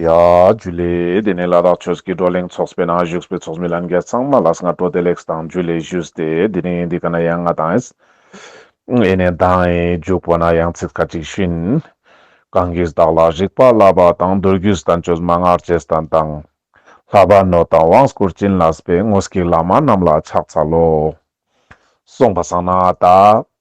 ཡ། རྒྱུ་ལས། དེ་ནས་ལ་དྭགས་ཆོས་ཀྱི་བགྲོ་གླེང་ཚོགས་པའི་ནང་བཞུགས་པའི་ཚོགས་མི་ལམ་རྒྱལ་ཚང་མ་ལ་སྔ་དྲོ་བདེ་ལེགས་སུ་དང་རྒྱུ་ལས་བཞུགས་ཏེ་དེ་རིང་འདི་ག་ན་ཡང་ང་དང་ཨེ་ནས་དང་ཨེ་འཇུག་པ་ན་ཡང་ཚིག་ཁ་ཅིག་བཞིན། གང་གིས་བདག་ལ་རིག་པ་བསླབ་པ་དང་མདོ་རྒྱུད་དང་ཆོས་སྨྲ་སྔགས་རྗེས་དང་དང། ལྷ་བར་ནོ་དང་དབང་བསྐུར་བྱིན་རླབས་པའི་དངོས་ཀྱི་བླ་མ་རྣམས་ལ་ཕྱག་འཚལ་ལོ། གསུངས་པ་བསམ་ན་ད།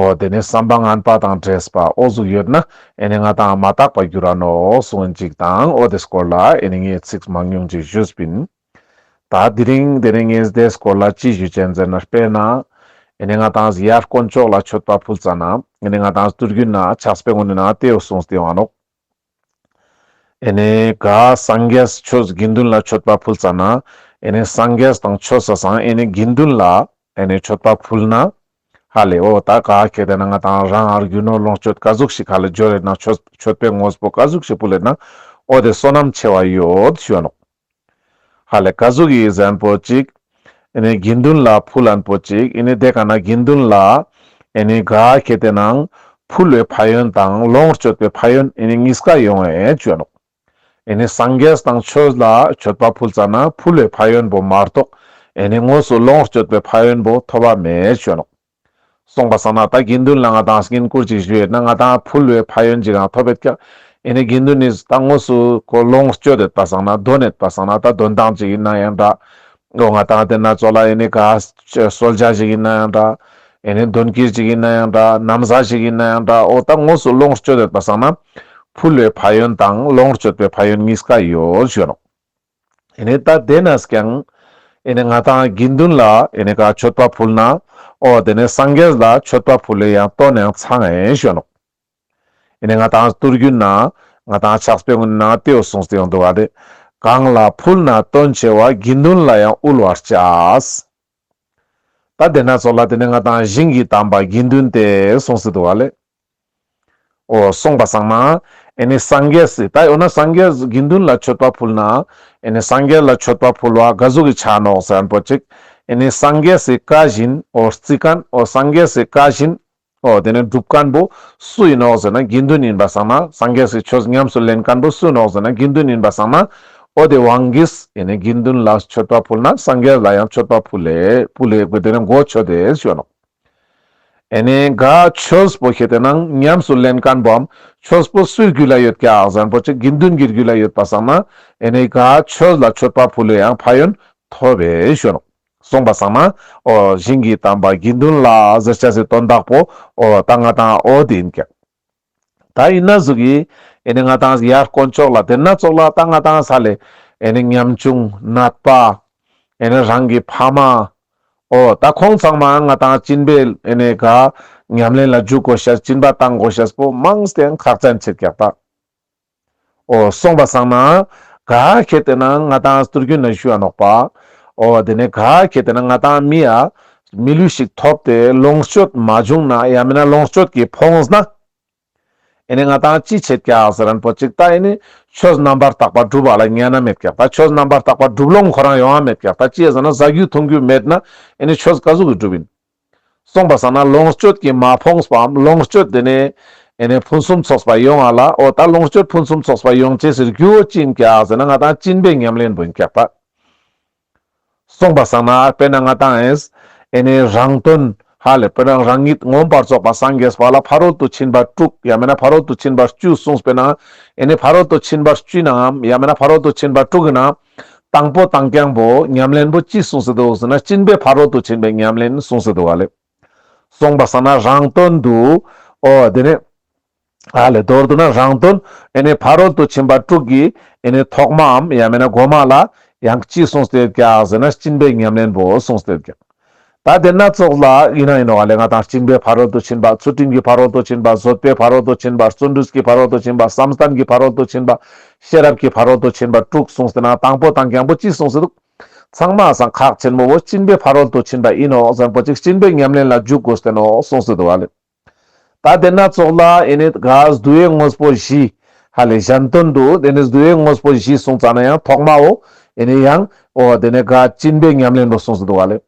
ཨོ་དེ་ནི་བསམ་པ་ངན་པ་དང་བྲེལ་ཟ་བ་ཨོ་གཟུགས་ཡོད་ན་ཨེ་ནི་ང་དང་མ་བརྟགས་པར་འགྱུར་ར་ནོ་གསུངས་འཇིག་དང་ཨོ་དེ་སྐོར་ལ་ཨེ་ནི་ངས་ཚིགས་མང་ཉུང་ཅིག་ཞུས་པིན། ད་དེ་རིང་དེ་ནི་ངས་དེ་སྐོར་ལ་ཅི་ཞུ་ཅན་ཟེར་ན་དཔེར་ན་ཨེ་ནི་ང་དང་ཡར་དཀོན་མཆོག་ལ་མཆོད་པ་ཕུལ་ཙ་ན་ཨེ་ནི་ང་དང་སྟུར་རྒྱུ་ན་ཆགས་པའི་ངོ་ནས་ན་དེའོ་གསུངས་དེ་ཨོ་ཨ་ནོག། ཨེ་ནས་ག་སངས་རྒྱས་ཆོས་དགེ་འདུན་ལ་མཆོད་པ་ཕུལ་ཙང་ན་ཨེ་ནས་སངས་རྒྱས་དང་ཆོས་ས་སང་ཨེ་ནས་དགེ་འདུན་ལ་ཨེ་ནས་མཆོད་པ་ཕུལ་ན། ཧ་ལས་ཨོ་ད་ག་ཁྱེད་དེ་ན་ང་དང་རང་ཨར་རྒྱུ་ནོར་ལོངས་སྤྱོད་ཀ་ཟུག་ཞིག་ག་ལ་འཇོ་རེ་ན་མཆོད་པའི་ངོ་སྤོ་ག་ཟུག་ཞིག་པུ་ལེ་ན་ཨོ་དེ་བསོད་ནམས་ཆེ་བ་ཡོད་ཞོལོགས། ཧ་ལས་ཀ་གཟུགས་ཡིད་གཟན་པོ་གཅིག། ཨེ་ནི་དགེ་འདུན་ལ་ཕུ་ལན་པོ་གཅིག་ཨེ་ནི་དེ་ག་ན་དགེ་འདུན་ལ། ཨེ་ནི་དགའ་སྐྱེད་དེ་ནང་ཕུ་ལོའི་ཕ་ཡོན་དང་ལོངས་སྤྱོད་པའི་ཕ་ཡོན་ཨེ་ནི་གཉིས་ཀ་ཡོང་བས་སྤྱོད་ལོག། ཨེ་ནི་སངས་རྒྱས་དང་ཆོས་ལ་སྤྱོད་པ་ཕུལ་ཙམ་ན་ཕུ་ལོའི་ཕ་ཡོན་པོ་མ་རྟོགས་ཨེ་ནི་དངོས་སུ་ལོངས་སྤྱོད་པའི་ཕ་ཡོན་པོ་ཐོབ་བ་མེད་སྤྱོད་ལོག། སོང་པ་བསམ་ན་ད་དགེ་འདུན་ལ་ང་དང་སྐྱེན་བཀུར་ཅིག་ཞུས་ན་ང་དང་ཕུ་ལོས་ཕ་ཡོན་ཅིག་རང་ཐོབ་པའི་སྐྱབས་ཨེ་ནས་དགེ་འདུན་ནས་ད་ངོ་སུ་ཁོ་ལོངས་སྤྱོད་དེ་ད་བསང་ན་རྡོ་ནས་ད་བསང་ན་ད་དོན་དང་ཅིག་ཡིན་ན་ཡང་འདྲ་འོ་ང་དང་དེ་ན་ཙོ་ལ་ཨེ་ནས་ག་སོལ་རྒྱག་ཅིག་ཡིན་ན་ཡང་འདྲ་ཨེ་ནས་འདོན་ཀིར་ཅིག་ཡིན་ན་ཡང་འདྲ་ནམ་བཟའ་ཞིག་ཡིན་ན་ཡང་འདྲ་འོ་ད་ངོ་སུ་ལོངས་སྤྱོད་དེ་ད་བསང་ན་ཕུ་ལོས་ཕ་ཡོན་དང་ལོངས་སྤྱོད་པའི་ཕ་ཡོན་གཉིས་ཀ་ཡོད་ཞུས་རོགས། ཨེ་ནས་ད་དེ་ནས་ཀྱང་ཨེ་ནས་ང་དང་དགེ་འདུན་ལ་ཨེ་ནས་ཀ་མཆོད་པ་ཕུལ་ན་ཨོ་དེ་ནས་སངས་རྒྱས་ལ་མཆོད་པ་ཕུལ་ལོ་ཡང་ལྟོ་ནས་ཚང་ཨེ་ཞོན་ནོ། ཨེ་ནས་ང་དང་གཏོར་རྒྱུ་ན་ང་དང་ཕྱག་སྤེལ་ན་ཏེའུ་སོང་སྟེ་ཡོང་དུ་བ་དེ་གང་ལ་ཕུལ་ན་ལྟོ་མཆེ་བ་དགེ་འདུན་ལ་ཡང་དབུལ་བར་བྱ། ད་དེ་ན་ཚོགས་ལ་དེ་ནས་ང་དང་གཞན་གྱིས་དམ་པ་དགེ་འདུན་ཏེ་གསུངས་སྲིད་དོ་ཨ་ལས། འོ་གསུངས་པ་བཟང་ན་ཨེ་ནི་སངས་རྒྱས་སྲིད་ད་འོ་ན་སངས་རྒྱས་དགེ་འདུན་ལ་མཆོད་པ་ཕུལ་ན་ཨེ་ནི་སངས་རྒྱས་ལ་མཆོད་པ་ཕུལ་བ་དགའ་གཟུགས་ཀྱི་ཕྱག་ནོག་ཟན་པོ་གཅིག་ཨེ་ནི་སངས་རྒྱས་སྲིད་བཀའ་བཞིན་འོ་རྩིས་ཀན་འོ་སངས་རྒྱས་སྲིད་བཀའ་བཞིན་ཨོ་དེ་ནས་སྒྲུབ་བཀན་པོ་སུ་ཡིན་ནོ་ཟེར་ན་དགེ་འདུན་ཡིན་པ་བསམ་ན་སངས་རྒྱས་སུ་ཆོས་ཉམས་སུ་ལེན་བཀན་པོ་སུ་ཡིན་ནོ་ཟེར་ན་དགེ་འདུན་ཡིན་པ་བསམ་ན། ཨོ་དེ་དབང་གིས་ཡིན་ནི་དགེ་འདུན་ལ་མཆོད་པ་ཕུལ་ན་སངས་རྒྱས་ལ་ཡང་མཆོད་པ་ཕུལ་ལེ་ལེ་དགོས་དེ་ནས་མགོ་ཆོད་དེ་ཞོན་ནོ། ཨེ་ནས་ག་ཆོས་པོ་ཤེས་དེ་ན་ཉམས་སུ་ལེན་བཀན་པོའམ་ཆོས་པོ་སུའི་རྒྱུད་ལ་ཡོད་ཀྱ་གཟན་པོ་ཆེ་དགེ་འདུན་གྱི་རྒྱུད་ལ་ཡོད་པ་བསམ་ན་ཨེ་ནས་ག་ཆོས་ལ་མཆོད་པ་ཕུལ་ལོ་ཡང་ཕ་ཡོན་ཐོབ་བས་ཞོན་ནོ། གསུངས་པ་བཟང་ན། བཞིན་གྱིས་དམ་པར་དགེ་འདུན་ལ་གཟིར་བྱ་ཟིར་གཏོར་བདག་པོ། ད་ང་དང་ཨོ་དེ་ཡིན་ཀྱང། ད་ཡིན་ན་གཟུགས་ཀྱིས། ནི་ང་དང་ཡར་དཀོན་མཆོག་ལ་དེར་ན་ཙོག་ལ་ད་ང་དང་ས་ལས། ནི་ཉམ་ཆུང་ནད་པ། ནི་རང་གི་ཕ་མ། ཨོ་ད་ཁོང་ཚང་མ་ང་དང་སྤྱིན་པས་ནི་དགའ། ཉམས་ལེན་ལ་འཇུག་གོ་ཤ་སྤྱིན་པ་བཏང་གོ་ཤ་སྤོ་དམངས་སྟེང་ཁག་ཅན་ཕྱིར་བཀྱག་པ། ཨོ་སོང་བ་སང་ན། ག་གེ་བལྟས་ན་ང་དང་སྟུར་རྒྱུན་ན་ཤུ་ཡ་ནོག་པ། ཨོ་དེ་ནས་ག་གེ་བལྟས་ན་ང་དང་མི་ཡ། མི་ལུས་ཤིག་ཐོབ་ཏེ་ལོངས་སྤྱོད་མ་བྱུང་ན་ཡ་མིན་ན་ལོངས་སྤྱོད་ཀྱི་ཕོངས་ན། ཨེ་ནས་ང་དང་ཅི་བྱེད་ཀྱ་ཟེར་རན་པོ་ཅིག་ད་ཨེ་ནས་ཆོས་རྣམ་པར་དག་པ་སྒྲུབ་བ་ལ་ཉན་ན་མེད་ཀྱ་ད་ཆོས་རྣམ་པར་དག་པ་སྒྲུབ་ལོང་ཁོ་རང་ཡོང་ཡ་མེད་ཀྱ་ད་ཅི་ཡ་ཟེར་ན་ཟ་རྒྱུ་འཐུང་རྒྱུ་མེད་ན་ཨེ་ནས་ཆོས་ག་ཟུག་གི་སྒྲུབ་ཡིན། གསུངས་པ་ཟ་ན་ལོངས་སྤྱོད་ཀྱིས་མ་ཕོངས་པའམ་ལོངས་སྤྱོད་དེ་ནས་ཕུན་སུམ་ཚོགས་པ་ཡོང་བ་ལ་ཨོ་ད་ལོངས་སྤྱོད་ཕུན་སུམ་ཚོགས་པ་ཡོང་བྱེད་ཟེར་རྒྱུའོ་སྤྱིན་བརྒྱག་ཟེར་ན་ང་དང་སྤྱིན་པའི་ཉམས་ལེན་འབུལ་འཁྱག་པ། གསུངས་པ་ཟ་ན་དཔེར་ན་ང་དང་ཨེ་རང་དོན་ཧ་ལས་པོ་རང་རང་ཉིད་ངོམས་པར་རྫོགས་པ་སངས་རྒྱས་པ་ལ་ཕ་རོལ་ཏུ་ཕྱིན་པ་དཀྲུགས་ཡང་མེད་ན་ཕ་རོལ་ཏུ་ཕྱིན་པར་སྤྱུད་གསུངས་པས་ན་ཨེ་ཕ་རོལ་ཏུ་ཕྱིན་པར་སྤྱུད་ནའམ་ཡང་མེད་ན་ཕ་རོལ་ཏུ་ཕྱིན་པར་དཀྲུགས་ཡིན་ན་དང་པོ་དང་རྐྱང་པོ་ཉམས་ལེན་པོ་ཅི་གསུངས་སི་འདུག་ཟེར་ན་སྤྱིན་པའི་ཕ་རོལ་ཏུ་ཕྱིན་པའི་ཉམས་ལེན་གསུངས་སི་འདུག་བ་ལས། གསུངས་པ་ས་ན་རང་དོན་དུ་ཨོ་དེ་ནས་ཨ་ལས་མདོར་བསྡུ་ན་རང་དོན་ཨེ་ནས་ཕ་རོལ་ཏུ་ཕྱིན་པ་དྲུག་གི་ཨེ་ནས་ཐོག་མའམ་ཡང་མེད་ན་སྒོ་མ་ལ་ཡང་ཅི་གསུངས་སི་འདུག་ཟེར་ན་སྤྱིན་པའི་ཉམས་ལེན་པོ་གསུངས་སི་འདུག་ཀྱང། ད་ལྟའི་སྣ་ཚོགས་ལ་ཡིན་ན་ཡིན་ནོ་ལས་ང་དང་གཅིག་པའི་ཕ་རོལ་ཏུ་ཕྱིན་པ་ཚུལ་ཁྲིམས་ཀྱི་ཕ་རོལ་ཏུ་ཕྱིན་པ་བཟོད་པའི་ཕ་རོལ་ཏུ་ཕྱིན་པ་བརྩོན་འགྲུས་ཀྱི་ཕ་རོལ་ཏུ་ཕྱིན་པ་བསམ་གཏམ་གྱི་ཕ་རོལ་ཏུ་ཕྱིན་པ་ཤེས་རབ་ཀྱི་ཕ་རོལ་ཏུ་ཕྱིན་པ་དྲུག་གསུངས་ཟིན་ན་དང་པོ་དང་གྱང་པོ་གཅིག་གསུངས་ཟིན་འདུག་ཚང་མ་ཟང་ཁག་ཆེན་མོ་བོ་གཅིན་པའི་ཕ་རོལ་ཏུ་ཕྱིན་པ་ཡིན་ནོ་གཟན་པོ་གཅིག་གཅིན་པའི་ཉམས་ལེན་ལ་འཇུག་དགོས་བསྟན་ནོ་གསུངས་ཟིན་འདུག་ལ། ད་དེ་སྣ་ཚོགས་ལ་ཨེ་ནི་དགའ་བསྡུ་ཡའི་དངོས་པོ་བཞི། ཧ་ལས་གཞན་དོན་དུ་དེ་ནི་བསྡུ་ཡའི་དངོས་པོ་བཞི་གསུངས་ཙང་ན་ཡང་ཐོག་མའོ། ཨེ་ནི་ཡང། ཨོ་དེ་ནི་དགའ་བཅིངས་པའི་ཉམས་ལེན་དུ་གསུངས་སུ་འདུག་བ་ལས།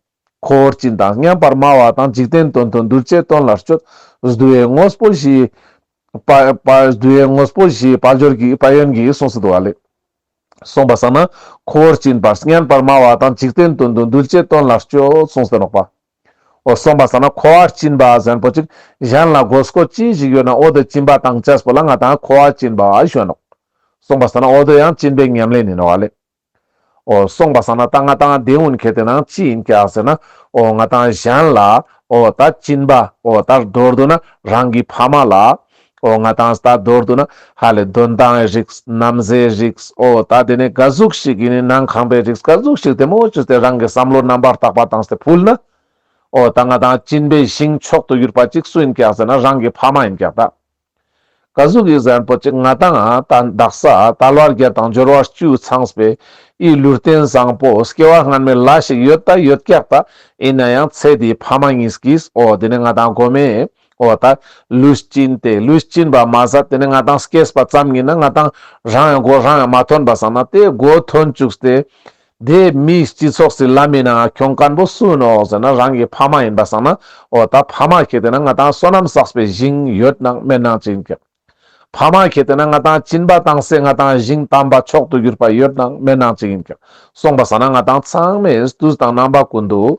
འཁོར་བཅིངས་དང་མཉམ་པར་སྨྲ་བ་དང་འཇིག་རྟེན་དོན་དུ་གདུལ་བྱའི་དོན་ལ་སྤྱོད། བསྡུ་ཡའི་དངོས་པོ་བཞི། བསྡུ་ཡའི་དངོས་པོ་བཞིའི་དཔལ་འབྱོར་གྱི་དཔལ་ཡོན་གྱིས་གསུངས་སུ་འདུག་བ་ལས། གསུངས་པ་ས་ན། འཁོར་བཅིངས་པར་མཉམ་པར་སྨྲ་བ་དང་འཇིག་རྟེན་དོན་དུ་གདུལ་བྱའི་དོན་ལ་སྤྱོད་གསུངས་ཟེར་རོགས་པ། འོ་སོང་པ་ཟ་ན་ཁོ་བ་སྐྱིན་པ་གཟན་པོ་ཅིག་གཞན་ལ་དགོས་སྐོ་ཅི་ཞིག་ཡོད་ན་འོ་དོད་སྐྱིན་པ་དང་ཅེས་པོ་ལ་ང་དང་ཁོ་བ་སྐྱིན་པ་བ་ཞོན་ནོ། སོང་པ་ཟ་ན་འོ་དོད་ཡང་སྐྱིན་པའི་ཉམས་ལེན་ནི་ནོ་བ་ལེ། འོ་སོང་པ་ཟ་ན་ད་ང་དང་བདེ་འུན་ཁེ་དེ་ན་ཅི་ཡིན་ཀྱ་ཟེར་ན་འོ་ང་དང་གཞན་ལ་འོ་ད་སྐྱིན་པ་འོ་ད་འགྲོར་འདུག་ན་རང་གི་ཕ་མ་ལ་ཨོ་ང་དང་ད་མདོར་དུ་ན་ཧ་ལས་དོན་དང་ཨའི་རིགས་རྣམ་སའི་རིགས་ཨོ་ད་དེ་ནི་དགའ་གཟུགས་ཤིག་ཡིན་ནི་ནང་ཁང་པའི་རིགས་དགའ་གཟུགས་ཤིག་དེ་མོ་ཅོ་དེ་རང་གི་བསམ་བློ་རྣམ་པར་དག་པ་དང་ཕུལ་ན་ཨོ་ད་ང་དང་གཅིན་པའི་ཞིང་མཆོག་ཏུ་གྱུར་པ་ཅིག་སུ་ཡིན་ཀྱག་ཟེར་ན་རང་གི་ཕ་མ་ཡིན་ཀྱག་ད་དགའ་གཟུགས་ཀྱི་གཟན་པོ་ཅིག་ང་དང་ཨ་ད་འདག་ས་ད་ལོ་རྒྱལ་དང་འབྱོར་བ་བཅུའི་ཚངས་པའི་ཨི་ལུས་རྟེན་བཟང་པོ་སྐྱེ་བ་སྔར་མེད་ལ་ཞིག་ཡོད་ད་ཡོད་ཀྱག་ད་ཡིན་ན་ཡང་ཚེ་འདིའི་ཕ་མ་གཉིས་ཀྱིས་ཨོ་དེ་ནི་ང་དང་དགོ་མའི། འོ་ད། ལུས་སྐྱིན་ཏེ་ལུས་སྐྱིན་པ་མ་ཟ་དེ་ནས་ང་དང་སྐྱེས་པ་ཙམ་ཡིན་ན་ང་དང་རང་ཡང་སྒོ་རང་ཡང་མ་ཐོན་པ་བསམ་ན་དེ་སྒོ་ཐོན་བཅུགས་ཏེ། དེ་མིའི་སྤྱི་ཚོགས་སུ་ལབ་མིན་ན་ང་གྱོང་དཀར་པོ་སུ་ཡིན་འོག་ཟེར་ན་རང་གི་ཕ་མ་ཡིན་པ་བསམ་ན་འོ་ད་ཕ་མ་ཁྱེད་དེ་ན་ང་དང་བསོད་ནམས་བསགས་པའི་བཞིན་ཡོད་སྣང་སྨན་སྣང་ཅི་ཡིན་ཁྱེད། ཕ་མ་ཁྱེད་དེ་ན་ང་དང་སྐྱིན་པ་དང་སེ་ང་དང་བཞིན་དམ་པ་མཆོག་ཏུ་གྱུར་པ་ཡོད་སྣང་སྨན་སྣང་ཅི་ཡིན་ཁྱེད་གསུངས་པ་བསམ་ན་ང་དང་ཚང་མས་ཏུས་དང་རྣམ་པ་ཀུན་ཏུ།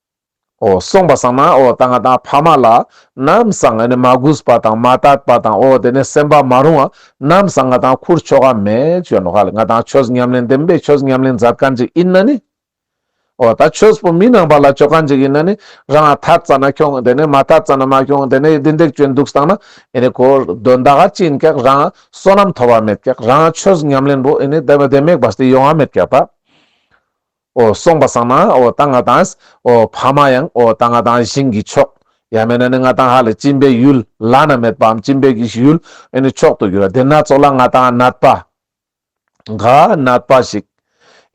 ཨོ། གསུངས་པ་སངས་ན་ཨོ་རྟགས་ལྔ་དང་ཕ་མ་ལ། ནམ་སངས་ནི་མ་གུས་པ་དང་མ་བརྟགས་པ་དང་ཨོ་དེ་ནི་སེམས་པ་མ་རུང་བ། ནམ་སངས་ང་དང་ཁུར་ཆོ་ག་མེད་ཅོ་ནོ་ཧ་ལས་ང་དང་ཆོས་ཉམས་ལེན་བདེན་པའི་ཆོས་ཉམས་ལེན་མཛད་དཀའ་འཇིག་ཡིན་ན་ནི། ཨོ་ད་ཆོས་པོ་མི་སྣང་བ་ལ་སྤྱོད་དཀའ་འཇིག་ཡིན་ན་ནི། རང་ལ་ཐར་ཙ་ན་ཁྱོང་དེ་ནི་མ་ཐར་ཙ་ན་མ་ཁྱོང་དེ་ནི་བདེན་འདེགས་སྤྱོད་འདུག་སངས་ན་ཨེ་ནི་གོ། དོན་དག་ཅིན་ཀེག་རང་བསོད་ནམས་ཐོབ་བ་མེད་ཀེག་རང་ཆོས་ཉམས་ལེན་པོ་ཨེ་ནི་བདེན་མེག་བ་སྟེ་ཡོང་བ་མེད་ཀེག་པ། གསུངས་པ་སངས་མ་ཏཱ་ང་དང། བྷ་མ་ཡང་ཏཱ་ང་དང་བཞིན་གྱི་མཆོག། ཡང་མེད་ན་ནི་ང་དང་ཧ་ལས་སྤྱིན་པའི་ཡུལ། བླ་ན་མེད་པའམ་སྤྱིན་པའི་གྱི་ཡུལ་ཨེ་ནི་མཆོག་ཏུ་འགྱུར། དེ་སྣ་ཚོགས་ལ་ང་དང་ནད་པ། འགའ་ནད་པ་ཞིག།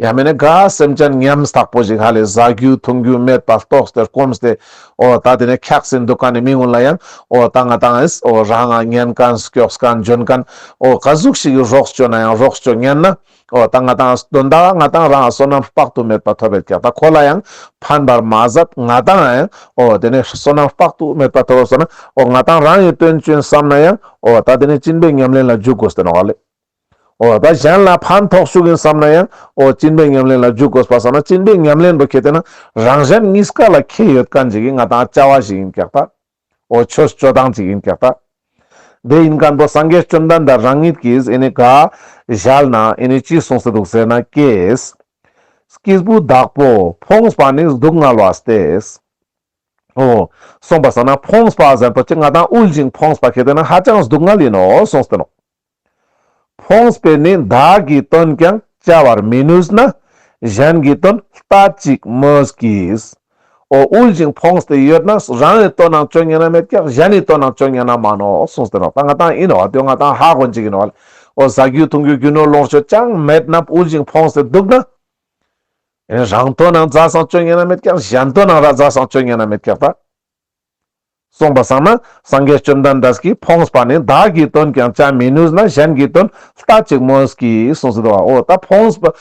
ཡང་མེད་ན་འགའ་སེམས་ཅན་ཉམས་ཐག་པོ་ཞིག་ཧ་ལས་བཟའ་རྒྱུ་འཐུང་རྒྱུ་མེད་པ་རྟོགས་ཏེ་སྐོམས་ཏེ། ད་དེ་ནས་འཁྱགས་སེ་འདུག་ག་ནི་མི་ངོ་ལ་ཡང་ཏཱ་ང་དང། རང་ངག་ཉན་གང་སྐྱོགས་གང་འཇོན་གང། ག་ཟུག་ཞིག་གིས་རོགས་བྱོས་ན་ཡང་རོགས་བྱོས་ཉན་ན། ཨོ་ད་ང་དང་དོན་དག་ང་དང་རང་བསོད་ནམས་དཔག་ཏུ་མེད་པ་ཐོབ་པའི་གེགས་དག་ཁོ་ལ་ཡང་ཕན་པར་མ་ཟད་ང་དང་ཡང་ཨོ་དེ་ནས་བསོད་ནམས་དཔག་ཏུ་མེད་པ་ཐོབ་བ་བསོད་ན་ཨོ་ང་དང་རང་ཡི་དོན་སྤྱོན་བསམ་ན་ཡང་ཨོ་ད་དེ་ནས་བཅིན་པའི་ཉམས་ལེན་ལ་འཇུག་དགོས་བསྟན་བ་ལས། ཨོ་ད་གཞན་ལ་ཕན་ཐོགས་ཞུགས་ཡིན་བསམ་ན་ཡང་ཨོ་བཅིན་པའི་ཉམས་ལེན་ལ་འཇུག་དགོས་པ་བསམ་ན་བཅིན་པའི་ཉམས་ལེན་དུ་ཁེལ་དེ་ན་རང་གཞན་གཉིས་ཀ་ལ་ཁེལ་ཡོད་གང་ཅིག་གིས་ང་དང་བཅའ་བ་ཞིག་ཡིན་གེགས་དག། ཨོ་ཆོས་སྤྱོད་སྟངས་གཅིག་ཡིན་ཀྱང། དེ་ཡིན་མཁན་པོ་སངས་རྒྱས་བཅོམ་ལྡན་འདས་རང་ཉིད་ཀྱིས་ཨེ་ནི་དགག་བཞག་ན་ཨེ་ནི་ཅི་གསུངས་སུ་འདུག་ཟེར་ན་ཀྱེས། སྐྱེས་བུ་བདག་པོ་ཕོངས་པ་ནི་སྡུག་བསྔལ་བ་སྟེས་སོ། གསུངས་པ་བསམ་ན་ཕོངས་པ་གཟན་པོ་སྐྱེ་རྔ་དང་དབུལ་ཞིང་ཕོངས་པ་སྐྱེ་དེ་ནི་ཧ་ཅང་སྡུག་བསྔལ་ཡིན་ནོ་གསུངས་སྟེ་ནོ། ཕོངས་པས་ནི་བདག་གི་དོན་ཀྱང་བྱ་བར་མི་ནུས་ན་གཞན་གྱི་དོན་ལྟ་ཅིག་སྨོས་ཀྱིས། འོ་དབུལ་ཞིང་ཕོངས་ཏེ་ཡོད་ན་རང་ནི་དོན་རྣམས་སྤྱོད་ཉན་ན་མེད་ཀྱང་གཞན་ནི་དོན་རྣམས་སྤྱོད་ཉན་ན་མ་ནོ་གསུངས་སྟེ་ནོར་དང་ལྔ་དང་ཡིན་ནོ་དུས་ལྔ་དང་ཧ་གོ་འཇིག་ཡིན་ནོ། འོ་བཟའ་རྒྱུ་འཐུང་རྒྱུ་རྒྱུ་ནོར་ལོངས་སྤྱོད་ཅང་མེད་ན་དབུལ་ཞིང་ཕོངས་ཏེ་འདུག་ན། རང་དོན་རྣམས་བཟའ་བསང་སྤྱོད་ཉན་ན་མེད་ཀྱང་གཞན་དོན་རྣམས་ར་བཟའ་བསང་སྤྱོད་ཉན་ན་མེད་ཀྱང་ལྟ། གསུངས་པ་བསམ་ན་སངས་རྒྱས་བཅོམ་ལྡན་འདས་ཀྱིས་ཕོངས་པ་ནི་བདག་གིས་དོན་ཀྱང་བྱ་མི་ནུས་ན་གཞན་གྱིས་དོན་ལྟ་ཅིག་མོས་ཀྱིས་གསུངས་སྲིད་དོ། ད་ཕོངས་པ་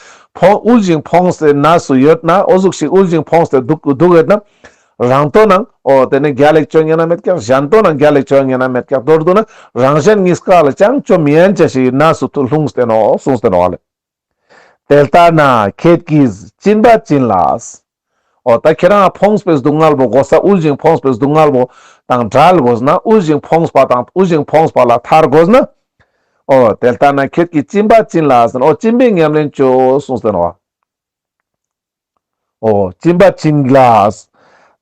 དབུལ་ཞིང་ཕོངས་ཏེ་ན་སུ་ཡོད་ན་ཨོ་གཟུགས་ཤིག་དབུལ་ཞིང་ཕོངས་ཏེ་འདུག་གོ་འོད་ན་རང་དོན་ན་ཨོ་དེ་ནི་རྒྱ་ལེགས་བྱོལ་ངེས་ན་མེད་ཀྱང་གཞན་དོན་ན་རྒྱ་ལེགས་བྱོལ་ངེས་ན་མེད་ཀྱང་མདོར་བསྡུ་ན་རང་གཞན་གཉིས་ཀ་ལ་ཅང་བཅོམ་ཡན་ཆད་ཞིག་ན་སུ་ལྷུང་སྟེ་ནོ་གསུངས་སྟེ་ནོ། དེ་ལྟ་ན་ཁྱེད་ཀྱིས་བྱིན་པ་བྱིན་ལགས། འོ་ད་ཁྱེད་རང་འཕོངས་པའི་སྡུག་བསྔལ་བོ་གོ་ས་དབུལ་ཞིང་འཕོངས་པའི་སྡུག་བསྔལ་བོ་དང་བྲལ་དགོས་ན་དབུལ་ཞིང་འཕོངས་པ་དང་དབུལ་ཞིང་འཕོངས་པ་ལ་ཐར་དགོས་ན། འོ་དེ་ལྟ་ན་ཁྱེད་ཀྱིས་བྱིན་པ་བྱིན་ལགས། འོ་བྱིན་པའི་ཉམས་ལེན་བཅུ་གསུངས་ཟིན་ནོ། ཨོ། སྤྱིན་པ་སྤྱིན་གླགས།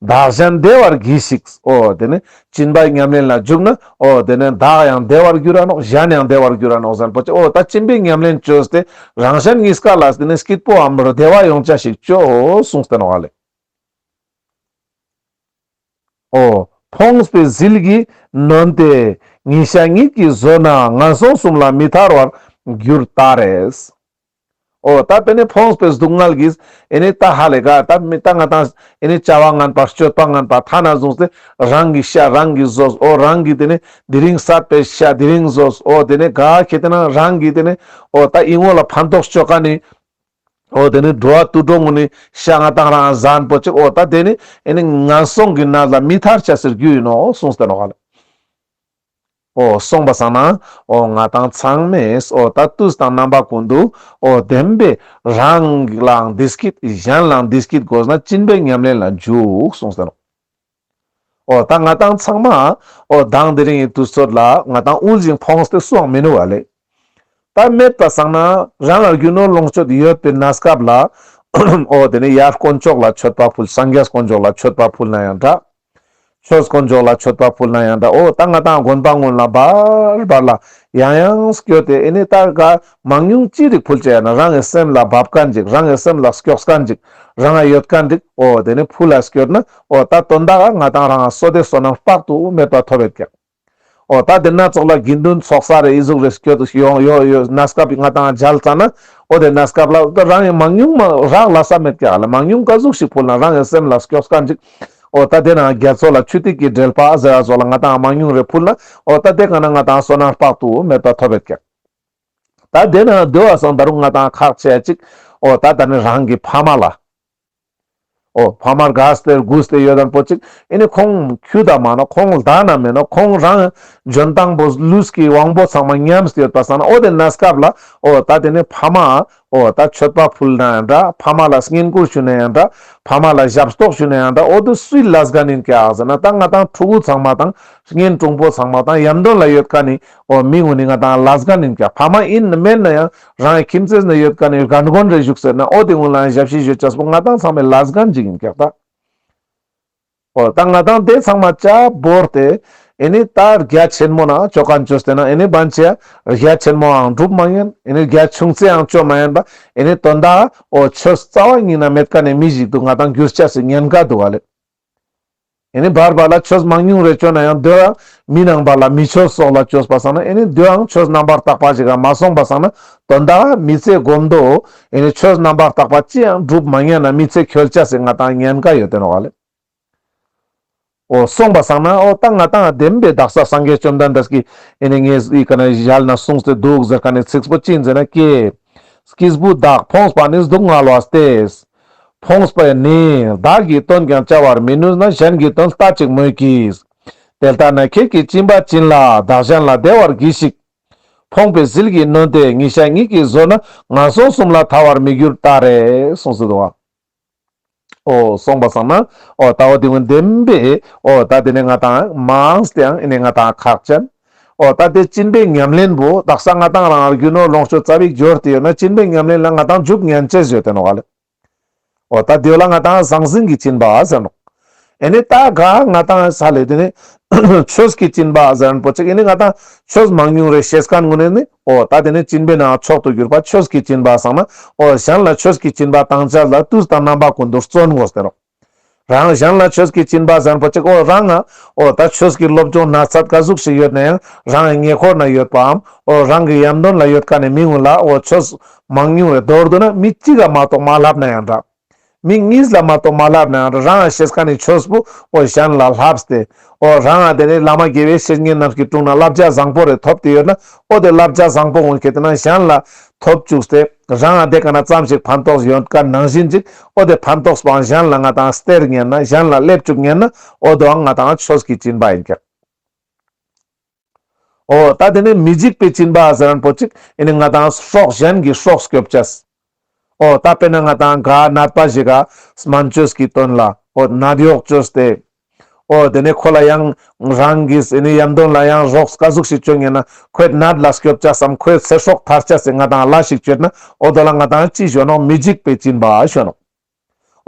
བདག་གཞན་བདེ་བར་གྱིས་ཤིག། ཨོ། དེ་ནས་སྤྱིན་པའི་ཉམས་ལེན་ལ་འཇུག་ན། ཨོ། དེ་ནས་བདག་ཡང་བདེ་བར་འགྱུར་ར་ནོག་གཞན་ཡང་བདེ་བར་འགྱུར་ར་ནོག་གཟན་པོ་ཅི་ཨོ། ད་སྤྱིན་པའི་ཉམས་ལེན་བཅོས་ཏེ་རང་གཞན་གཉིས་ཀ་ལ་དེ་ནས་སྐྱིད་པོ་འམ་རུ་བདེ་བ་ཡོང་བྱ་ཞིག་བཅོས་ཨོ་གསུངས་བསྟན་བ་ལས། ཨོ། ཕོངས་པའི་ཟིལ་གྱིས་ནོན་ཏེ་ཉིན་ཞག་གཉིས་ཀྱིས་བཟོད་ན་ངན་སོང་གསུམ་ལ་མི་ཐར་བར་འགྱུར་ད་རེས། ཨོ་ད་དེ་ནས་ཕོངས་པའི་སྡུག་བསྔལ་གྱིས་ཨེ་ནས་ད་ཧ་ལས་ག་ད་མི་ད་ང་དང་ཨེ་ནས་བྱ་བ་ངན་པ་སྤྱོད་པ་ངན་པ་ཐ་ན་བཟུང་སྟེ་རང་གི་ཤ་རང་གིས་བཟོས་ཨོ་རང་གིས་དེ་ནས་དེ་རིང་བསད་པའི་ཤ་དེ་རིང་བཟོས་ཨོ་དེ་ནས་ག་ཁྱེད་དེ་ན་རང་གིས་དེ་ནས་ཨོ་ད་ཨི་ངོ་ལ་ཕན་ཐོགས་སྤྱོད་ག་ནས་ཨོ་དེ་ནས་འགྲོ་བ་དུད་འགྲོ་ངོ་ནས་ཤ་ང་དང་རང་གཟན་པོ་གཅིག་ཨོ་ད་དེ་ནས་ཨེ་ནས་ངན་སོང་གི་གནས་ལ་མི་ཐར་བྱ་ཟེར་རྒྱུ་ཡིན་ནོ་གསུངས་སྟེ་ནོ་ག་ལས། ཨོ་གསུངས་པ་བསམ། ཨོ་ང་དང་ཚང་མས་ཨོ་ད་ཏུས་དང་རྣམ་པ་ཀུན་ཏུ་ཨོ་བདེན་པས་རང་ལའང་འདི་སྐད་གཞན་ལའང་འདི་སྐད་དགོས་ན་སྤྱིན་པའི་ཉམས་ལེན་ལ་འཇུག་གསུངས་ཟེར་རོ། ཨོ་ད་ང་དང་ཚང་མ་ཨོ་གདངས་འདི་རིང་ཡི་དུས་ཚོད་ལ་ང་དང་དབུལ་ཞིང་ཕོངས་ཏེ་སུའང་མི་ནུས་བ་ལས། ད་མེད་པ་བསམ་ན་རང་ལ་རྒྱུ་ནོར་ལོངས་སྤྱོད་ཡོད་པའི་ན་སྐབས་ལ་ཨོ་དེ་ནས་ཡར་དཀོན་མཆོག་ལ་མཆོད་པ་ཕུལ་སངས་རྒྱས་དཀོན་མཆོག་ལ་མཆོད་པ་ཕུལ་ན་ཡང་འདྲ། ཆོས་དཀོན་མཆོག་ལ་མཆོད་པ་ཕུལ་ན་ཡང་འདྲ་འོ་ད་ང་དང་དགོན་པ་སྔོན་ལ་འབར་འབར་ལ་ཡང་ཡང་སྐྱོ་དེ་ཨེ་ནས་ད་ག་མང་ཉུང་ཅི་རིགས་ཕུལ་བྱས་ན་རང་གི་སེམས་ལ་བབས་ཀ་འཇིག་རང་གི་སེམས་ལ་སྐྱོགས་ཀ་འཇིག་རང་ང་ཡོད་ཀ་འགྲིག་འོ་དེ་ནས་ཕུལ་ལ་སྐྱོར་ན་འོ་ད་དོན་དག་ང་དང་རང་སོ་དེ་སོ་ནམ་དཔག་ཏུ་མེད་པ་ཐོབ་བས་ཀྱང། ཨོ་ད་དེ་སྣ་ཚོགས་ལ་དགེ་འདུན་ཚོགས་ས་རེ་ཡི་གཟུགས་རེ་སྐྱོ་དུ་ཡོང་ཡོད་ཡོད་སྣ་སྐབས་ཡི་ང་དང་མཇལ་ཙ་ན་ཨོ་དེ་སྣ་སྐབས་ལ་ད་རང་ཡི་མང་ཉུང་མ་རག་ལ་ས་མེད་ཀྱ་ལ་མང་ཉུང་ཀ་གཟུགས་ཤིག་ཕུལ་ན་རང་ཡི་སེམས་ལ་སྐྱོ་སྐ་འཇིག་ཨོ་ད་དེ་ན་རྒྱ་མཚོ་ལ་ཆུ་ཐིགས་ཀྱི་དྲེལ་པ་ཟེ་ར་ཟོ་ལ་ང་དང་མང་ཉུང་རེ་ཕུལ་ན་ཨོ་ད་དེ་ག་ན་ང་དང་བསོད་ནམས་དཔག་ཏུ་མེད་པ་ཐོབ་ཡོད་ཀྱ་ད་དེ་ན་བདེ་བ་སངས་ད་རུང་ང་དང་ཁག་བྱས་ཅིག་ཨོ་ད་ད་ནི་རང་གི་ཕ་མ་ལ། ཨོ་བྷ་མར་དགའ་སྟེར་སྒུག་སྟེ་ཡོད་དམ་པོ་ཅིག་ཨེ་ནི་ཁོང་ཁྱུ་དག་མ་ན་ཁོང་ལྡག་ན་མེད་ན་ཁོང་རང་འཇོན་ཐང་པོ་ལུས་ཀྱི་དབང་པོ་ཚང་མ་ཉམས་སུ་ཡོད་པ་བསམ་ན་ཨོ་དེ་ན་སྐབས་ལ་ཨོ་ད་དེ་ནི་བྷ་མ་ཨོ་ད་ཆོས་པ་ཕུལ་ན་ཡང་འདྲ་བྷ་མ་ལ་བསྙེན་བཀུར་ཞུས་ན་ཡང་འདྲ་བྷ་མ་ལ་ཞབས་ཏོག་ཞུས་ན་ཡང་འདྲ་ཨོ་དེ་སུའི་ལ་སྒ་ནིན་ཀྱ་ཟེར་ན་ད་ང་དང་ཕྲུ་གུ་ཚང་མ་དང་བསྙེན་བཀྲུང་པོ་ཚང་མ་དང་ཡམ་དོན་ལ་ཡོད་ཀ་ནི་ཨོ་མི་ངོ་ནི་ང་དང་ལ་སྒ་ནིན་ཀྱ་བྷ་མ་ཨིན་ན་མེད་ན་ཡང་རང་གི་ཁྱིམ་མཚེས་ན་ཡོད་དཀའ་ནས་གར་འགོན་རེ་བཞུགས་ཟེར་ན་ཨོ་དེ་སྔོན་ལའང་ཞབས་ཕྱི་བཞུད་བྱ་སྤོ་ང་ཐང་ཚང་མའི་ལ་སྒ་འཇིག་ཡིན་སྐད་ད། ཨོ་ད་ང་ཐང་དེ་ཚང་མ་བཅའ་བོར་ཏེ་ཨེ་ནི་ད་རྒྱ་ཆེན་མོ་ན་སྤྱོ་ག་འཇོ་ཟེར་ན་ཨེ་ནི་བན་ཆེ་རྒྱ་ཆེན་མོའང་སྒྲུབ་མ་ཡིན་ཨེ་ནི་རྒྱ་ཆུང་ཚེའང་སྤྱོ་མ་ཡིན་པ་ཨེ་ནི་དོན་དག་ཨོ་ཆོས་རྩ་བ་ཉིད་ན་མེད་དཀའ་ནས་མི་ཞིག་འདུག་ང་ཐང་བསྒྱུར་བྱ་སི་ཉན་དགའ་འདུག་ཨ་ལེ། ཨེ་ནི་བར་བར་ལ་ཆོས་མང་ཉུང་རེ་བཅོས་ན་ཡང་འདོད། མི་སྣང་བར་ལ་མི་ཆོས་སོགས་ལ་ཆོས་པ་བསགས་ན་ཨེ་ནི་འདོདའང་ཆོས་རྣམ་པར་དག་པ་ཞིག་གམ་མ་སོང་པ་བསགས་ན་དོན་དག་མི་ཚེ་སྒོམ་འདོད། ཨེ་ནི་ཆོས་རྣམ་པར་དག་པ་ཅི་ཡང་བསྒྲུབ་མ་ཉན་ན་མི་ཚེ་ཁྱོད་ཅག་སྲིད་ང་དང་ཉན་དགའ་ཡོད་དོན་རོ། ཨོ་སོང་པ་བསགས་ན་ཨོ་ཏང་ང་ཏང་བདེན་པའི་བདག་སར་སངས་རྒྱས་བཅོམ་ལྡན་འདས་ཀྱིས་ཨེ་ནི་ངས་ཨི་ཀ་ན་བཞལ་ན་གསུངས་སྟེ་འདུག་ཟེར་ཀ་ནས་ཚིགས་སྤོ་ཅི་མཛད་ན་སྐྱེས། སྐྱིས་བུ་བདག་ཕོངས་པ་ནི་སྡུག་བསྔལ་བ་སྟེ། ཕོངས་པས་ནི་བདག་གིས་དོན་ཀྱང་བྱ་བར་མི་ནུས་ན་གཞན་གྱི་དོན་ལྟ་ཅིག་མོད་ཀྱི། དེ་ལྟ་ན་ཁྱེད་ཀྱིས་བཅིངས་པ་བྱིན་ལ་བདག་གཞན་ལ་བདེ་བར་གྱིས་ཤིག། ཕོངས་པའི་ཟིལ་གྱིས་ནོན་ཏེ་ཉིན་ཞག་གཉིས་ཀྱིས་བཟོད་ན་ང་སོང་གསུམ་ལ་ཐར་བར་མི་འགྱུར་ཏཱ་རེ། གསུངས་སོ། ཨོ་གསུངས་པ་སོང་ན་ཨོ་ད་ཨོ་དེ་དབེན་བདེན་པས་ཨོ་ད་དེ་ནི་ང་དང། མ་འོངས་དེའང་ཨེ་ནི་ང་དང་ཁག་ཅན། ཨོ་ད་ལྟའི་སྤྱི་འབེན་ཉམས་ལེན་བུ་དག་གསང་སྔགས་དང་རང་རྒྱུ་ནོར་ལོངས་སྤྱོད་རྩ་བའི་རྒྱུར་དེ་ཡོད་ན་སྤྱི་འབེན་ཉམས་ལེན་ལ་ང་དང་འཇུག་ཉན་ཅེས་བརྗོད་དེ་ནོག་ག་ལོ་ད་དེ་ལ་ང་དང་ཟང་ཟིང་གིས་བཅིན་པ་ཟེར་ནོག་ཨེ་ནི་ད་ག་ང་དང་ས་ལེ་དེ་ནི་ཆོས་ཀྱིས་བཅིན་པ་ཟེར་ཨན་པོ་ཅིག་ཨེ་ནི་ང་དང་ཆོས་མང་ཉུང་རེ་ཤེས་གང་ངོ་ནས་ནི་ཨོ་ད་དེ་ནི་སྤྱི་འབེན་ནང་མཆོག་ཏུ་གྱུར་པ་ཆོས་ཀྱིས་བཅིན་པ་བསམ་ན་ཨོ་གཞན་ལ་ཆོས་ཀྱིས་བཅིན་པ་དང་ཅལ་དང་བཏུས་དང་རྣམ་པ་ཀུན་ཏུ་བརྩོན་ངོ་ཟེར་ནོག། རང་གཞན་ལ་ཆོས་ཀྱི་སྤྱིན་པ་བཟང་པོ་གཅིག་ཨོ་རང་ཨོ་ད་ཆོས་ཀྱི་སློབ་སྦྱོང་ན་ཚ་དཀའ་གཟུགས་ཤིག་ཡོད་ན་ཡང་རང་ཨི་ཉེ་འཁོར་ན་ཡོད་པའམ་ཨོ་རང་གི་ཡམ་དོན་ལ་ཡོད་ཀ་ནས་མི་ངུ་ལ་ཨོ་ཆོས་མང་ཉུང་བའི་དོར་དུ་ན་མི་གཅིག་ལ་མ་གཏོགས་མ་བསླབ་ན་ཡང་འདྲ། མི་གཉིས་ལ་མ་གཏོགས་མ་བསླབ་ན་ཡང་འདྲ་རང་ཨ་ཤེས་ཀ་ནས་ཆོས་པོ་ཨོ་གཞན་ལ་བསླབས་ཏེ་ཨོ་རང་ཨ་དེ་ནས་བླ་མ་དགེ་བའི་བཤེས་གཉེན་རྣམས་ཀྱི་དྲུང་ན་བསླབ་བྱ་བཟང་པོ་རེ་ཐོབ་ཏེ་ཡོད་ན་ཨོ་དེ་བསླབ་བྱ་བཟང་པོ་འོང་གི་དེ་ན་གཞན་ལ་ཐོབ་བཅུགས་ཏེ། རང་ཨ་དེ་ག་ན་ཙམ་ཞིག་ཕན་ཐོགས་ཡོད་དཀའ་ནང་བཞིན་ཅིག་ཨོ་དེ་ཕན་ཐོགས་པའང་གཞན་ལ་ང་དང་སྟེར་ཉན་ན་གཞན་ལ་སླེབས་བཅུག་ཉན་ན་ཨོ་དོའང་ང་དང་ཆོས་ཀྱི་སྤྱིན་པ་ཡིན་ཀྱང། ཨོ་ད་དེ་ནི་མི་འཇིགས་པའི་སྤྱིན་པ་ཟེར་རན་པོ་ཅིག་ཨེ་ནི་ང་དང་ཕྱོགས་གཞན་གྱི་ཕྱོགས་སྐྱོབ་བྱས། ཨོ་ད་དཔེར་ན་ང་དང་ག་ནད་པ་ཞིག་ག་སྨན་ཆོས་ཀྱིས་བཏོན་ལ་ཨོ་ནད་གཡོག་ཆོས་དེས་ཨོ། དེ་ནས་ཁོ་ལ་ཡང། རང་གི་ཟས་ནི་ཡམ་དོན་ལ་ཡང་རོགས་དཀའ་གཟུགས་ཤིག་སྤྱོད་ངེས་ན། ཁོས་ནད་ལ་སྐྱོབ་བྱ་བསམ་ཁོའི་ཚེ་སྲོག་ཐར་བྱ་ཟེར་ང་དང་བླ་ཞིག་བཅོལ་ན་ཨོ་དོ་ལ་ང་དང་ཅི་བྱོན་ནོ་མི་འཇིགས་པའི་སྤྱིན་པ་བྱོན་ནོ།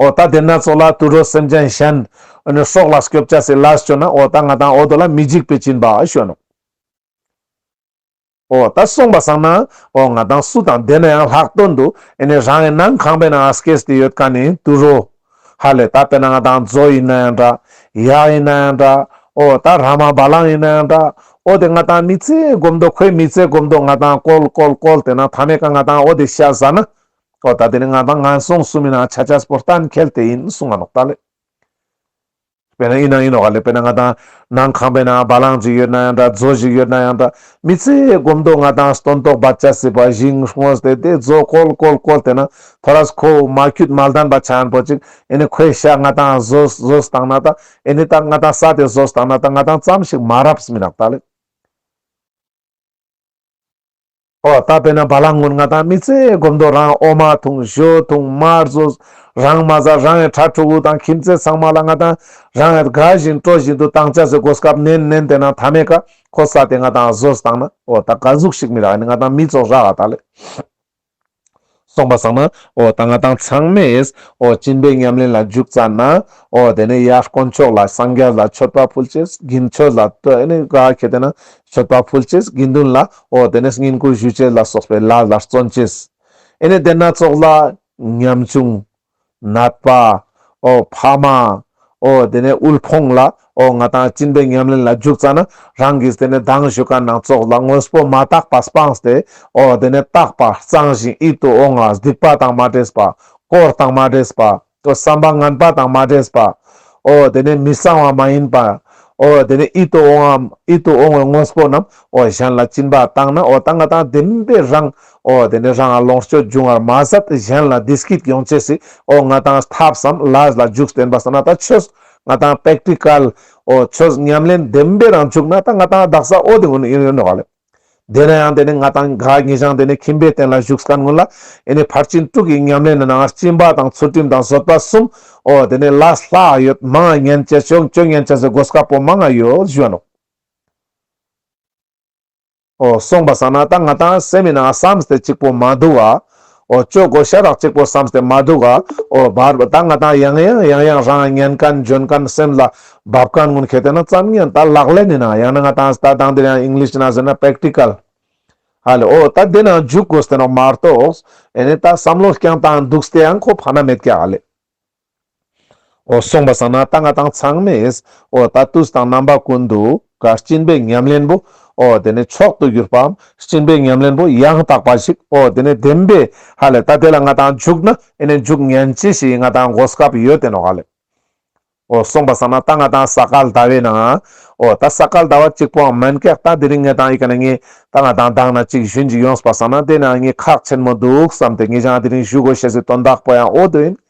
ཨོ་ད་དེ་ནད་ཚོགས་ལ་དུད་འགྲོ་སེམས་ཅན་གཞན། སྲོག་ལ་སྐྱོབ་བྱ་ཟེར་བླ་ཞིག་བཅོལ་ན་ཨོ་ད་ང་དང་ཨོ་དོ་ལ་མི་འཇིགས་པའི་སྤྱིན་པ་བྱོན་ནོ། ཨོ། ད་སོང་པ་བཟང་ན། ཨོ་ང་དང་སུ་དང་བསྡད་ན་ཡང་ལྷག་བསྟོད་འདུག་ཨེ་ནས་རང་ཨེ་ནང་ཁང་པའི་ནང་ཨ་སྐད་དེ་ཡོད་ཀ་ནས་དུ་རོ། ཧ་ལས་ད་དཔེ་ན་ང་དང་ཛོ་ཡིན་ན་ཡང་འདྲ། ཡག་ཡིན་ན་ཡང་འདྲ། ཨོ་ད་ར་མ་བ་ལང་ཡིན་ན་ཡང་འདྲ། ཨོ་དེ་ང་དང་མི་ཚེ་སྒོམ་འདོག་ཁོའི་མི་ཚེ་སྒོམ་འདོག་ང་དང་བཀོལ་བཀོལ་བཀོལ་དེ་ན་ད་ནས་ཀ་ང་དང་ཨོ་དེ་ཤ་བཟའ་ན། ཨོ་ད་དེ་ནས་ང་དང་ང་སོང་སུ་མིན་ཨ་ཆ་ཆ་སྤོ་ལྟ་འཁེལ་དེ་ཡིན་སུ་ང་ནོག་ད་ལས། དཔེར་ན་ཡིན་ན་ཡིན་ནོ་ག་ལེ་དཔེར་ན་ང་དང་ནང་ཁང་པའི་ནང་བ་ལང་ཅིག་ཡོད་ན་ཡང་འདྲ་མཛོ་ཞིག་ཡོད་ན་ཡང་འདྲ་མི་ཚེའི་སྒོམ་དོགས་ང་དང་སྟོན་དོགས་བར་ཆད་སྲིད་པ་བཞིན་ངོས་དེ་དེ་མཛོ་བཀོལ་བཀོལ་བཀོལ་དེ་ན་ཐོ་ར་སུ་ཁོ་བོ་མ་འཁྱུད་མ་ལྡན་པ་ཆེན་པོ་ཅིག་ཨེ་ནི་ཁོའི་ཤ་ང་དང་བཟོ་བཟོ་སྟངས་ན་ད་ཨེ་ནི་ད་ང་དང་ས་དེ་བཟོ་སྟངས་ན་ད་ང་དང་ཙམ་ཞིག་མ་རབས་མི་རག་ད་ལེ། ཨོ་རྟ་དཔེ་ན་བ་ལང་སྔོན་ང་དང་མི་ཚེ་སྒོམ་མདོ་རང་ཨོ་མ་འཐུང་ཞོ་འཐུང་མར་བཟོ་རང་མ་བཟའ་རང་ཨེ་གྲ་ཕྲུ་གུ་དང་ཁྱིམ་མཚེས་ཚང་མ་ལ་ང་དང་རང་ཨེ་དགའ་བཞིན་སྤྲོ་བཞིན་དུ་དང་ཅག་ཚེ་སྒོ་སྐབས་ནན་ནན་དེ་ན་ད་མེ་ཀ་ཁོ་ས་དེ་ང་དང་བཟོ་ས་དང་ན་ཨོ་རྟ་དགའ་གཟུགས་ཤིག་མི་རག་ཨེ་ནི་ང་དང་མི་ཚོགས་རག་ཨ་ད་ལས། སོང་པ་བཟང་ན་ཨོ་ད་ང་དང་ཚང་མས་ཨོ་སྤྱིན་པའི་ཉམས་ལེན་ལ་འཇུག་བཙའ་ན་ཨོ་དེ་ནས་ཡར་དཀོན་མཆོག་ལ་སངས་རྒྱས་ལ་མཆོད་པ་ཕུལ་རྗེས་དགིན་ཆོས་ལ་སྟོད་ནས་དགའ་ཁྱེད་དེ་ན་མཆོད་པ་ཕུལ་རྗེས་དགེ་འདུན་ལ་ཨོ་དེ་ནས་བསྙེན་བཀུར་ཞུས་རྗེས་ལ་སོགས་པའི་ལ་ལར་བརྩོན་བྱས་ཨེ་ནས་དེ་སྣ་ཚོགས་ལ་ཉམས་ཆུང་ནད་པ། ཨོ་ཕ་མ། ཨོ་དེ་ནས་དབུལ་ཕོངས་ལ་ཨོ་ང་དང་གཅིན་པའི་ཉམས་ལེན་ལ་འཇུག་ཙང་ན་རང་གིས་དེ་ནས་སྡང་ཞུ་ག་ནང་ཙོག་ལ་དངོས་པོ་མ་བཏགས་པ་སྤངས་ཏེ་ཨོ་དེ་ནས་བཏགས་པ་གཙང་བཞིན་ཨི་དུ་ཨོ་ངག་སྡིག་པ་དང་མ་འདྲེས་པ། དཀོར་དང་མ་འདྲེས་པ། ཨོ་བསམ་པ་ངན་པ་དང་མ་འདྲེས་པ། ཨོ་དེ་ནས་མི་གཙང་བ་མ་ཡིན་པ། ཨོ་དེ་ནས་ཨི་དུ་ཨོ་ངམ་ཨི་དུ་ཨོ་ངོས་དངོས་པོ་རྣམས་ཨོ་གཞན་ལ་གཅིན་པ་བཏང་ན་ཨོ་ད་ང་དང་ལྡན་པའི་རང་ཨོ་དེ་ནས་རང་ང་ལོངས་སྤྱོད་འབྱུང་བར་མ་ཟད་གཞན་ལ་དེ་སྐད་ཀྱང་བྱས་སྲིད་ཨོ་ང་དང་ཐབས་སམ་ལཱས་ལ་འཇུག་བསྟན་པ་ཟ་ན་ད་ཆོས་ང་དང Practical ཨོ་ཆོས་ཉམས་ལེན་བདེན་པའི་རང་བྱུང་ན་ད་ང་དང་བདག་ཟ་ཨོ་དེ་སྔོན་ནས་ཡོད་ཡོད་འདྲ་བ་ལས། དེ་ན་ཡང་དེ་ནས་ང་དང་དགའ་ངེས་ཤིང་དེ་ནས་ཁྱིམ་པའི་རྟེན་ལ་བཞུགས་སྐལ་མངོན་ལ་ཨེ་ནས་ཕར་ཕྱིན་དྲུག་གི་ཉམས་ལེན་ནང་ང་སྤྱིན་པ་དང་ཚུལ་ཁྲིམས་དང་བཟོད་པ་གསུམ་ཨོ་དེ་ནས་ལཱས་ལྷག་ཡོད་མང་ངན་བྱེད་ཆོས་ངན་བྱེད་ཟེར་དགོས་དཀའ་པོ་མང་ཡོད་བཞུགས་ཨ་ནོ། ཨོ་གསུངས་པ་བསམ་ན་ད་ང་དང་སེམས་མི་ན་བསམ་སྟེ་གཅིག་པོ་མ་འདུག་ཨ། ཨོ་ཅོག་གོ་ཤ་རག་གཅིག་པོ་བསམ་སྟེ་མ་འདུག་ཨ། ཨོ་བར་བ་ད་ང་དང་ཡང་ཡང་ཡང་ཡང་རང་ཉན་གན་འཇོན་གན་སེམས་ལ་འབབ་གན་ངོ་མཁས་དེ་ན་བརྩམ་ངན་ད་ལག་ལེན་ནི་ན་ཡང་ན་ང་དང་ད་དང་འདིར་ཡང English ན་ཟེར་ན Practical ཧ་ལས་ཨོ་ད་དེ་ན་འཇུག་གོ་སྟེ་ནོག་མ་རྟོགས་ཨེ་ནས་ད་བསམ་བློ་རྐྱང་དང་འདུག་སྟེ་ཡང་ཁོ་ཕ་ན་མེད་ཀྱ་ཨ་ལས། འོ་གསུངས་པ་བསམ་ན་རྟ་རྔ་དང་ཚང་མེད། འོ་ད་ཏུས་དང་རྣམ་པ་ཀུན་འདུ་ག། སྤྱིན་པའི་ཉམས་ལེན་པོ། འོ་དེ་ནས་མཆོག་ཏུ་གྱུར་པའམ། སྤྱིན་པའི་ཉམས་ལེན་པོ་ཡང་དག་པ་ཞིག། འོ་དེ་ནས་བདེན་པའི་ཧ་ལས། ད་དེ་ལ་ང་དང་འཇུག་ན་ཨེ་ནས་འཇུག་ཉན་ཅི་ཞིག་ང་དང་མགོ་སྐབས་ཡོད་དེ་ནོ་ཧ་ལས། འོ་གསུངས་པ་བསམ་ན་རྟ་རྔ་དང་ས་སྐལ་ཟླ་བས་ན། འོ་ད་ས་སྐལ་ཟླ་བ་གཅིག་པོའམ་མན་ཀེག་ད་དེ་རིང་ངེད་དང་ཡི་ག་ན་ངེད་རྟ་རྔ་དང་བདག་ན་གཅིག་ཞུན་ཅིག་ཡོངས་པ་བསམ་ན་དེ་ན་ངེད་ཁག་ཆེན་མོ་འདུག་བསམ་སྟེ་ངེད་ཅང་དེ་རིང་བཞུགས་གོ་ཞེས་སི་དོན་དག་པོ་ཡང་འོ་དོ་ཡིན།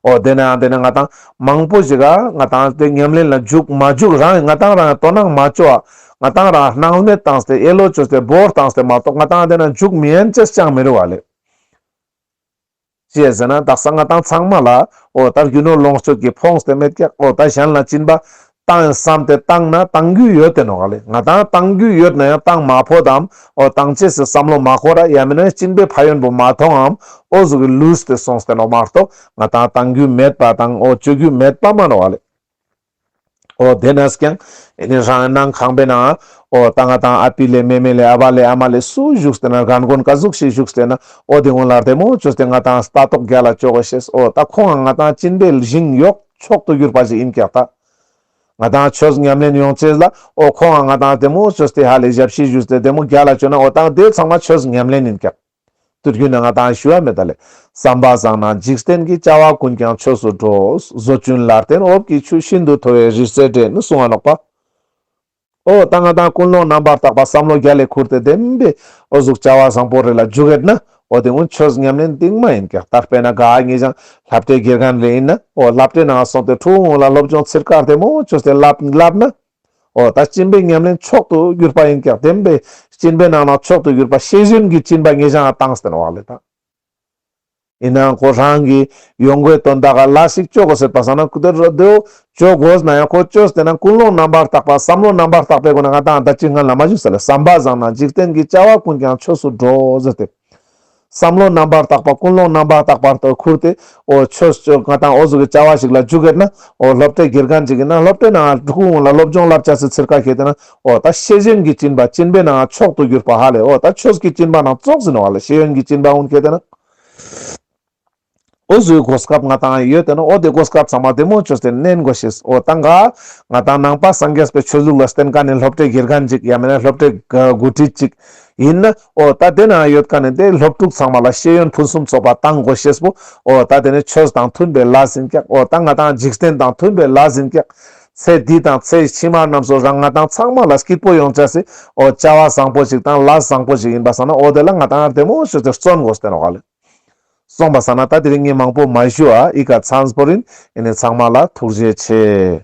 ཨོ་དེ་ནའང་དེ་ནི་ང་དང་མང་པོ་ཞིག་ང་དང་དེ་ཉམས་ལེན་ལ་འཇུག་མ་འཇུག་རང་ཡིན་ང་དང་རང་ཡང་དོ་སྣང་མ་བཅོལ་བ་ང་དང་རང་སྣང་མེད་བཏང་སྟེ་ཡེ་ལོ་བཅོལ་སྟེ་བོར་བཏང་སྟེ་མ་གཏོགས་ང་དང་དེ་ན་འཇུག་མི་ཡན་ཅི་ཅང་མི་རུང་བ་ལས། ཅེས་ཟེར་ན་དག་ས་ང་དང་ཚང་མ་ལ་ཨོ་ད་རྒྱུ་ནོར་ལོངས་སྤྱོད་ཀྱིས་ཕོངས་ཏེ་མེད་ཀྱང་ཨོ་ད་གཞན་ལ་བྱིན་པ་བཏང་ཡང་བསམ་སྟེ་བཏང་ན་བཏང་རྒྱུ་ཡོད་དེ་ནོ་ག་ལེ་ང་དང་བཏང་རྒྱུ་ཡོད་ན་ཡང་བཏང་མ་ཕོད་དམ་འོ་བཏང་བྱས་ཟེར་བསམ་བློ་མ་འཁོར་ར་ཡ་མིན་ན་ཡང་གཅིན་པའི་ཕ་ཡོན་པོ་མ་མཐོང་ངམ་འོ་གཟུགས་ཀྱི་ལུས་དེ་སོང་སྟེ་ནོ་མ་གཏོགས་ང་དང་བཏང་རྒྱུ་མེད་པ་དང་འོ་བཅོས་རྒྱུ་མེད་པ་མ་ནོ་ག་ལེ། འོ་དེ་ནས་ཀྱང་ཡིན་ནི་རང་སྣང་ཁང་པའི་ནང་འོ་ད་ང་དང་ཨ་ཕི་ལས་མེ་མེ་ལས་ཨ་ཕ་ལས་ཨ་མ་ལས་སུ་བཞུགས་སྟེ་ན་རྒན་རྒོན་ག་གཟུགས་ཤིག་བཞུགས་སྟེ་ན་འོ་དེ་སྔོན་ལ་དེ་མོ་བཅོས་ཏེ་ང་དང་ལྟ་རྟོག་རྒྱ་ལ་བཅོ་ག་བྱས་ཨོ་ད་ཁོང་ང་དང་གཅིན་པའི་ལི་ཞིང་གཡོག། མཆོག་ཏུ་གྱུར་པ་ཞིག་ཡིན་ཀྱང་ཐག། ང་དང་ཁྱོད་མཉམ་ལེན་ཡོང་ཆེད་ལ་ཨོ་ཁོང་ཨ་ང་དང་དེ་མོ་ཁྱོད་དེ་ཧ་ལས་ཞབས་ཕྱི་བཞུགས་ཏེ་བདེ་མོ་རྒྱ་ལ་བྱོན་ན་ཨོ་ཐང་དེ་ཚང་མ་ཁྱོད་མཉམ་ལེན་ཡིན་ཀྱང། དུས་རྒྱུན་ན་ང་དང་ཞུ་བ་མེད་ད་ལས་བསམ་པ་བཟང་ན་འཇིག་རྟེན་གྱི་བྱ་བ་ཀུན་ཀྱང་ཁྱོད་སུ་འགྲོ། བཟོ་བཅུན་ལར་བརྟེན་འོབས་ཀྱི་ཆུ་ཤིན་ཏུ་མཐོ་བའི་རི་རྩེ་འདྲེ་ནི་སྲུང་བ་ལོག་པ། ཨོ་རྟ་རྔ་དང་ཀུན་སློང་རྣམ་པར་དག་པ་བསམ་བློ་རྒྱ་ལས་འཁུར་ཏེ་བདེན་པའི་ཨོ་གཟུགས་བྱ་བ་བཟང་པོ་རེ་ལ་འཇུག་ཡོད་ན་ཨོ་དེ་ངོ་ཆོས་ཉམས་ལེན་སྟེང་མ་ཡིན་ཀྱང་དར་སྤེལ་ན་དགའ་ངེས་ཀྱང་ལྷ་བྲེའི་སྒེར་གང་རེ་ཡིན་ན་ཨོ་ལྷ་བྲེ་ནང་སོང་སྟེ་ཁྲོ་བོའི་ངོ་ལ་སློབ་སྦྱོང་ཚིར་དཀར་དེ་མོ་ཆོས་དེ་བསླབས་ན་ཨོ་ད་སྤྱིན་པའི་ཉམས་ལེན་མཆོག་ཏུ་གྱུར་པ་ཡིན་ཀྱང་བདེན་པའི་སྤྱིན་པའི་ནང་ན་མཆོག་ཏུ་གྱུར་པ་ཤེས་བཞིན་གྱི་སྤྱིན་པ་ངེས་ཀྱང་ཨ་ཏང་སྟེང་བག་ལས་དང། ཡིན་ནའང་ཁོ་རང་གིས་ཡོང་སྒོའི་དོན་དག་ག་ལ་ཞིག་སྤྱོད་དགོས་ཟེར་པ་བསམ་ན་དེར་རོ་དེའོ། སྤྱོད་དགོས་ན་ཡང་ཁོ་སྤྱོད་ཟེར་ན་ཀུན་སློང་རྣམ་པར་དག་པ་བསམ་བློ་རྣམ་པར་དག་པའི་སྒོ་ནས་ང་དང་ད་ཅི་སྔོན་ལ་མ་བཞུགས་ས་ལས་བསམ་པ་བཟང་ན་འཇིག་རྟེན་གྱི་བཅའ་བ་ཀུན་ཀྱང་ཆོས་སུ་འགྲོ་ཟེར་ཏེ། བསམ་བློ་རྣམ་པར་དག་པ་ཀུན་སློང་རྣམ་པར་དག་པར་དུ་ཁུར་ཏེ། འོ་ཆོས་སྤྱོད་ང་དང་འོ་གཟུགས་ཀྱི་བཅའ་བ་ཞིག་ལ་འཇུག་གེར་ན། འོ་སློབ་གྲྭའི་སྒེར་གང་ཅིག་གིས་ན་སློབ་གྲྭའི་ནང་ལ་སྒྲུབ་ཁུངས་ལ་སློབ་སྦྱོང་བསླབ་བྱ་ཟེར་ཚུལ་ཁ་ཤས་ལྟོས་ན། འོ་ད་ཤེས་བཞིན་གྱི་སྤྱིན་པ་སྤྱིན་པའི་ནང་མཆོག་ཏུ་གྱུར་པ་ཧ་ལས་འོ་ད་ཆོས་ཀྱི་སྤྱིན་པ་ནང་བཙོག་ཟིན་བ་ལ་ཤེས་ཡོན་གྱི་སྤྱིན་པ་འུན་ཁེ་དེ་ནི་འོ་བཟོའི་གོ་སྐབས་ང་དང་ཡོད་དེ་ནི་འོ་དེ་གོ་སྐབས་ཚང་མ་དེ་མོ་ཆོས་དེ་གནས་འགོ་ཤེས་འོ་ད་འགའ་ང་དང་ནང་པ་སངས་རྒྱས་པའི་ཆོས་ལུགས་ལ་བརྟེན་ཀ་ནི་སློབ་གྲྭའི་དགེར་ག་འཇིག་ཡ་མེད་ན་སློབ་གྲྭའི་དགུ་ཁྲིད་ཅིག་ཡིན་ན་འོ་ད་དེ་ནང་ཡོད་ཀ་ནི་དེ་སློབ་ཕྲུག་ཚང་མ་ལ་ཤེས་ཡོན་ཕུན་སུམ་ཚོགས་པ་གཏང་འགོ་ཤེས་པོ་འོ་ད་དེ་ནི་ཆོས་དང་མཐུན་པའི་ལ་ཟིན་ཀྱག་འོ་ད་ང་དང་འཇིག་རྟེན་དང་མཐུན་པའི་ལ་ཟིན་ཀྱག་ཚེ་འདི་དང་ཚེ་ཕྱི་མ་རྣམས་སུ་རང་ང་དང་ཚང་མ་ལ་སྐྱིད་པོ་ཡོང་བྱ་སྲིད། ཨོ་བྱ་བ་བཟང་པོ་ཞིག་དང་ལ་བཟང་པོ་ཞིག་ཡིན་པ་བསམ་ན་ཨོ་དེ་ལ་ང་དང་ཨར་དེ་མོ་ཞེས་ཚེ་བརྩོན་དགོས་སྟེ་རོགས་ལས། གསུངས་པ་བསམ་ན་ད་དེ་རིང་ཉིན་མང་པོ་མ་བཞུགས་ཨ་ཨི་ཀ་ཚ་འཛ་པོ་རིན་ཨི་ནི་ཚང་མ་ལ་ཐུགས་རྗེ་ཆེ།